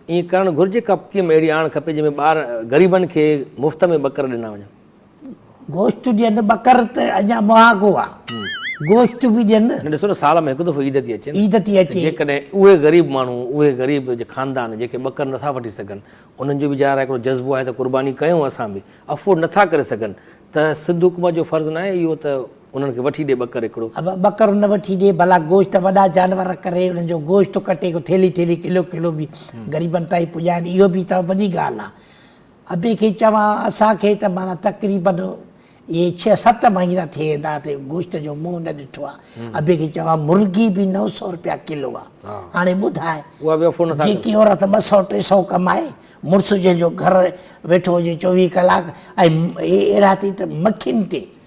ائين ڪرڻ گهرجي ڪپتيم اهڙي آڻ کپي جنهن ۾ ٻار غريبن کي مفت ۾ ٻڪر ڏنا وڃن. گوشت ڏين ٻڪر ته اڃا مهاڳو آ گوشت به ڏين. نه ڏسو نه سال ۾ هڪ دفعو عيد ٿي اچي عيد ٿي اچي. جيڪڏهن اهي غريب ماڻهو اهي غريب خاندان جيڪي ٻڪر نٿا وٺي سگهن انهن جو به ظاهر آهي هڪڙو جذبو آهي ته قرباني ڪيون اسان به افورڊ نٿا ڪري سگهن ته سنڌ حڪومت جو فرض ناهي اهو ته انهن کي وٺي ڏي ٻڪر هڪڙو. ابا ٻڪر نه وٺي ڏي ڀلا گوشت وڏا جانور ڪري انهن جو گوشت ڪٽي ڪو ٿيلهي ٿيلهي ڪلو ڪلو به غريبن تائين پڄائين اهو به ته وڏي ڳالهه آهي ابي کي چوان اسان کي ته معنيٰ تقريبن اهي ڇهه ست مهينا ٿي ويندا ته گوشت جو منهن نه ڏٺو آهي ابي کي چوان مرغي به نو سو رپيا ڪلو آهي هاڻي ٻڌاء جيڪي عورت ٻه سو ٽي سو ڪمائي مڙس جنهن جو گهر ويٺو هجي چوويهه ڪلاڪ ۽ اهي اهڙا ٿي ته مکين تي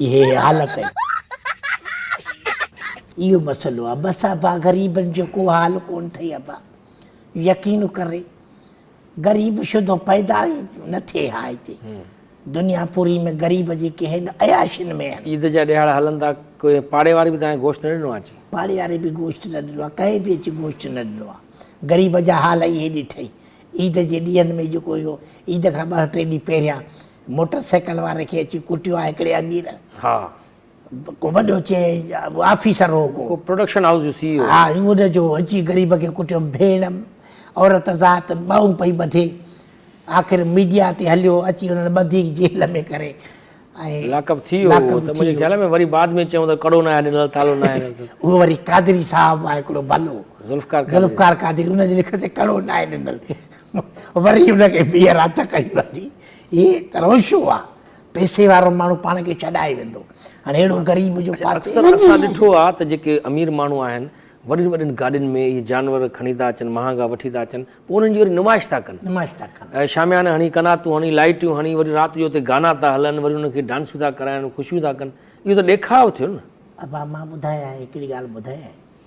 اهي حالت آهن. اهو مسئلو آهي بس ابا غريبن جو ڪو حال ڪون ٿئي ابا يقين ڪري غريب شدو پيدا ئي نه ٿئي ها هتي دنيا پوري ۾ غريب جيڪي آهن عياشين ۾ آهن. عيد جا ڏهاڙا هلن ٿا ڪنهن پاڙي واري به توهان گوشت نه ڏنو آهي اچي. پاڙي واري به گوشت نه ڏنو آهي ڪنهن به اچي گوشت نه ڏنو آهي غريب جا حال اهي ڏٺئي عيد جي ڏينهن ۾ جيڪو اهو عيد کان ٻه ٽي ڏينهن پهريان موٽر سائيڪل واري کي اچي ڪٽيو آ هڪڙي امير. ها. ڪو وڏو چي آفيسر هو ڪو. ڪو پروڊڪشن هائوس جو سي اي او. ها ان جو اچي غريب کي ڪٽيو ڀيڻ عورت ذات ٻانهون پئي ٻڌي آخر ميڊيا تي هليو اچي انهن ٻڌي جيل ۾ ڪري ۽ لاڪ اپ ٿي ويو هو ته منهنجي خيال ۾ وري بعد ۾ چيون ته ڪڙو ناهي ڏنل تالو ناهي ڏنل ته. اهو وري قادري صاحب آ هڪڙو ڀلو ذوالفقار قادري ذوالفقار قادري ان جي لکت تي ڪڙو ناهي ڏنل. وري ان کي ٻيهر هٿ ڪري وٺي هي ته روشو آ، پئسي وارو ماڻهو پاڻ کي ڇڏائي ويندو، هاڻي اهڙو غريب جو پاسي اڪثر وڃي. اسان ڏٺو آ ته جيڪي امير ماڻهو آهن، وڏين وڏين گاڏين ۾ اهي جانور کڻي ٿا اچن، مهانگا وٺي ٿا اچن، پوء انهن جي وري نمائش ٿا ڪن. نمائش ٿا ڪن. شاميانا هڻي، قناتون هڻي، لائٽيون هڻي، وري رات جو اتي گانا ٿا هلن، وري انهن کي ڊانسون ٿا ڪرائن، خوشيون ٿا ڪن. اهو ته ڏيکاء ٿيو نه. ابا مان ٻڌايانء هڪڙي ڳالهه ٻڌايانء،